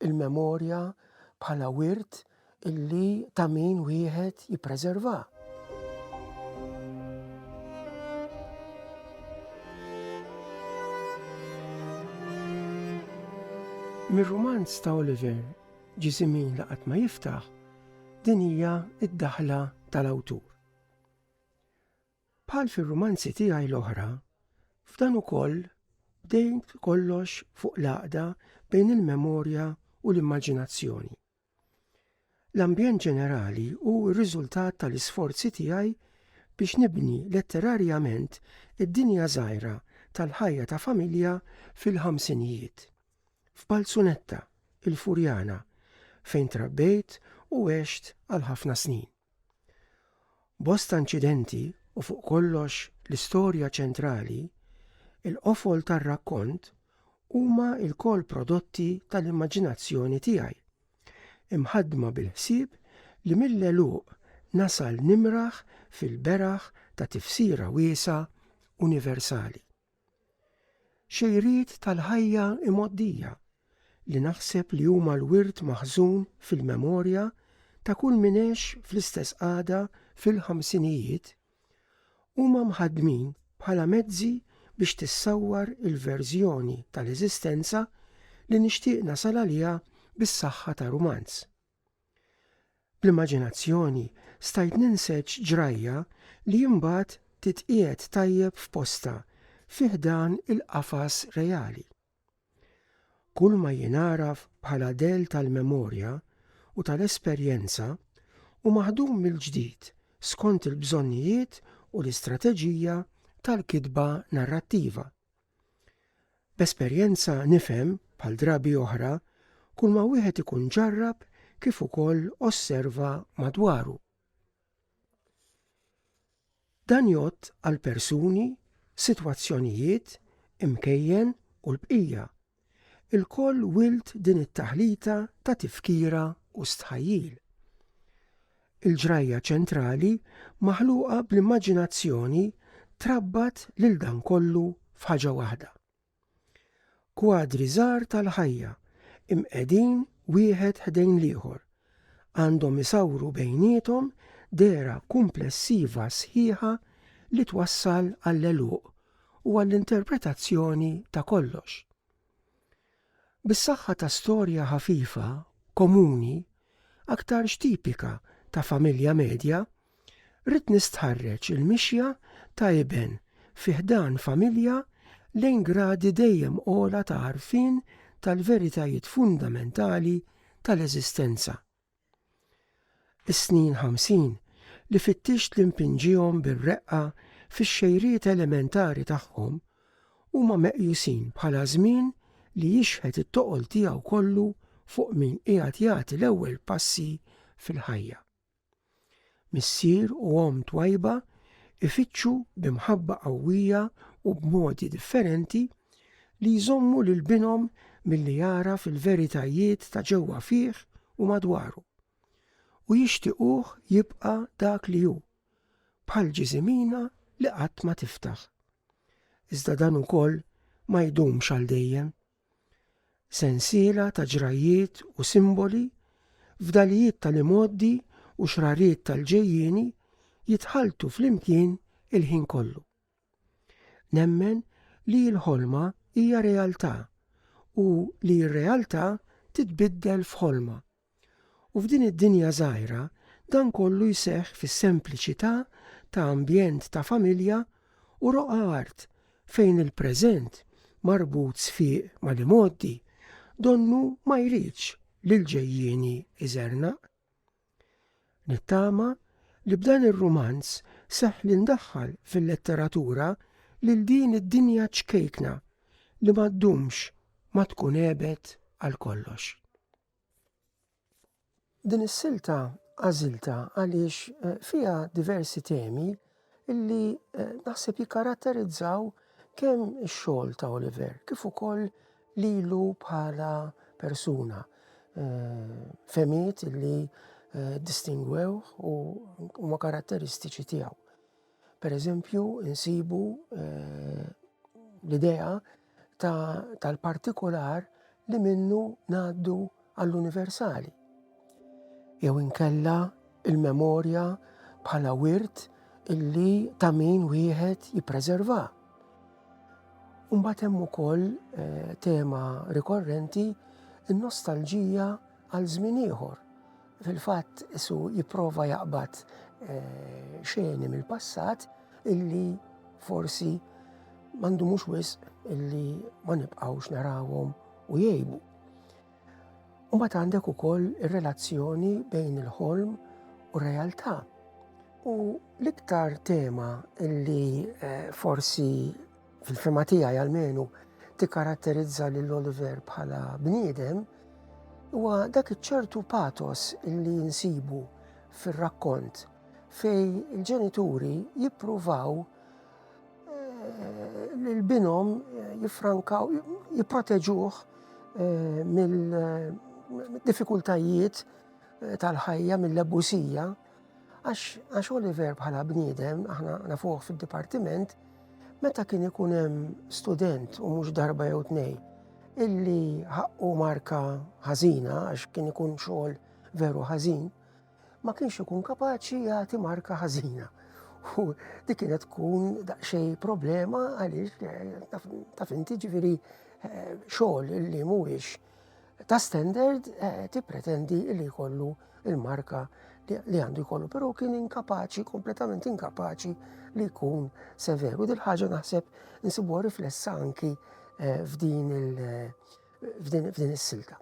il-memorja bħala wirt illi ta' min wieħed jippreserva. Mir-rumanz ta' Oliver ġi żmien li qatt ma jiftaħ, din hija d-daħla tal-awtur. Bħal fir-rumanzi tiegħi l-oħra, f'dan ukoll bdejt kollox fuq l-għaqda bejn il-memorja u l-immaġinazzjoni. L-ambjent ġenerali hu r-riżultat tal-isforzi tiegħi biex nibni letterarjament id-dinja żgħira tal-ħajja ta' familja fil-ħamsinijiet. F'Balzunetta, il-Furjana, fejn trabbejt u għext għal ħafna snin. Bosta inċidenti u fuq kollox l-istorja ċentrali, il-qofol tar-rakkont huma lkoll prodotti tal-immaġinazzjoni tiegħi, imħaddma bil-ħsieb li mill-għeluq nasal nimraħ fil-beraħ ta' tifsira wiesgħa universali. Xejriet tal-ħajja imgħoddija li naħseb li huma l-wirt maħżun fil-memorja ta' kull min għex fl-istess qagħda fil-ħamsinijiet, huma mħaddmin bħala mezzi biex tissawwar il-verżjoni tal-eżistenza li nixtieq nasal għaliha bis-saħħa ta' rumanz. Bl-immaġinazzjoni stajt ninseġ ġrajja li imbagħad titqiegħed tajjeb f'postha fi ħdan il-qafas reali. Kulma jien agħraf bħala dell tal-memorja u tal-esperjenza hu maħdum mill-ġdid skont il-bżonnijiet u l-istrateġija tal-kitba narrattiva. B'esperjenza nifhem, bħal drabi oħra, kulma wieħed ikun ġarrab kif ukoll osserva madwaru. Dan jgħodd għal persuni, sitwazzjonijiet, imkejjen u l-bqija. Ilkoll wild din it-taħlita ta' tifkira u stħajjil. Il-ġrajja ċentrali maħluqa bl-immaġinazzjoni trabbat lil dan kollu f'ħaġa waħda. Kwadri żgħar tal-ħajja imqegħdin wieħed ħdejn l-ieħor għandhom isawru bejniethom dehra kumplessiva sħiħa li twassal għall-għeluq u għall-interpretazzjoni ta' kollox. Bis-saħħa ta' storja ħafifa, komuni, aktarx tipika ta' familja medja, ridt nistħarreġ il-mixja ta' iben fi ħdan familja lejn gradi dejjem ogħla ta' għarfien tal-veritajiet fundamentali tal-eżistenza. Is-snin ħamsin li fittixt li npinġihom bir-reqqa fix-xejriet elementari tagħhom huma meqjusin bħala żmien li jixħet it-toqol tiegħu kollu fuq min qiegħed jagħti l-ewwel passi fil-ħajja. Missier u omm twajba jfittxu bi mħabba qawwija u b'modi differenti li jżommu lil binhom milli jagħraf il-veritajiet ta' ġewwa fih u madwaru, u jixtiequh jibqa' dak li hu, bħal ġisimina li qatt ma tiftaħ. Iżda dan ukoll ma jdumx għal dejjem. Sensiela ta' ġrajjiet u simboli, fdalijiet tal-imgħoddi u xrariet tal-ġejjieni jitħalltu flimkien il-ħin kollu. Nemmen li l-ħolma hija realtà u li r-realtà titbiddel f'ħolma. U f'din id-dinja żgħira dan kollu jseħħ fis-sempliċità ta' ambjent ta' familja u roqgħa art fejn il-preżent marbut sfiq mal-imgħoddi donnu ma jridx li l-ġejjieni jżernaq. Nittama li b'dan ir-rumanz seħħ li ndaħħal fil-letteratura lil din id-dinja ċkejkna li ma ddumx ma tkun għebet għal kollox. Din is-silta għażiltha għaliex eh, fiha diversi temi illi eh, naħseb jikkaratterizzaw kemm ix-xogħol ta' Oliver kif ukoll lilu bħala persuna. Eh, femiet illi distingwew u ma karatteristiċi tiegħu. Per eżempju, insibu eh, l-idea tal-partikolar li minnu ngħaddu għall-universali. Jew inkella il-memorja bħala wirt illi ta' min wieħed jippreserva. Umbat hemm ukoll eh, tema rikorrenti in-nostalġija Għal żmien ieħor, fil-fatt isu jipprova jaqbad eh, xeni mill-passat illi forsi mandu mhux wisq illi ma nibqgħux narawhom u jgħibu. Mbagħad għandek ukoll ir-relazzjoni bejn il-ħolm u realtà. U l-iktar tema li eh, forsi Fil-fema tiegħi almenu tikkaratterizza lil Oliver bħala bniedem huwa dak iċ-ċertu patos li jinsibu fir-rakkont fej il-ġenituri jippruvaw eh, li l-binom eh, jifrankaw, jipproteġuh eh, mill-diffikultajiet tal-ħajja, mill-abusija. Għax Oliver bħala bniedem, aħna nafuħ fil-dipartiment, meta kien ikun hemm student u mhux darba jew tnej illi ħaqqu marka ħażina għax kien ikun xogħol veru ħażin, ma kienx ikun kapaċi jagħti marka ħażina. U dik kienet tkun daqsxejn problema għaliex eh, taf inti ġifieri eh, xogħol illi mhuwiex ta' standard eh, tippretendi li jkollu il-marka li għandu jkollu, pero kien inkapaċi, kompletament inkapaċi li jkun severu. Dil ħaġa naħseb insibu riflessa anki eh, f'din eh, is-silta.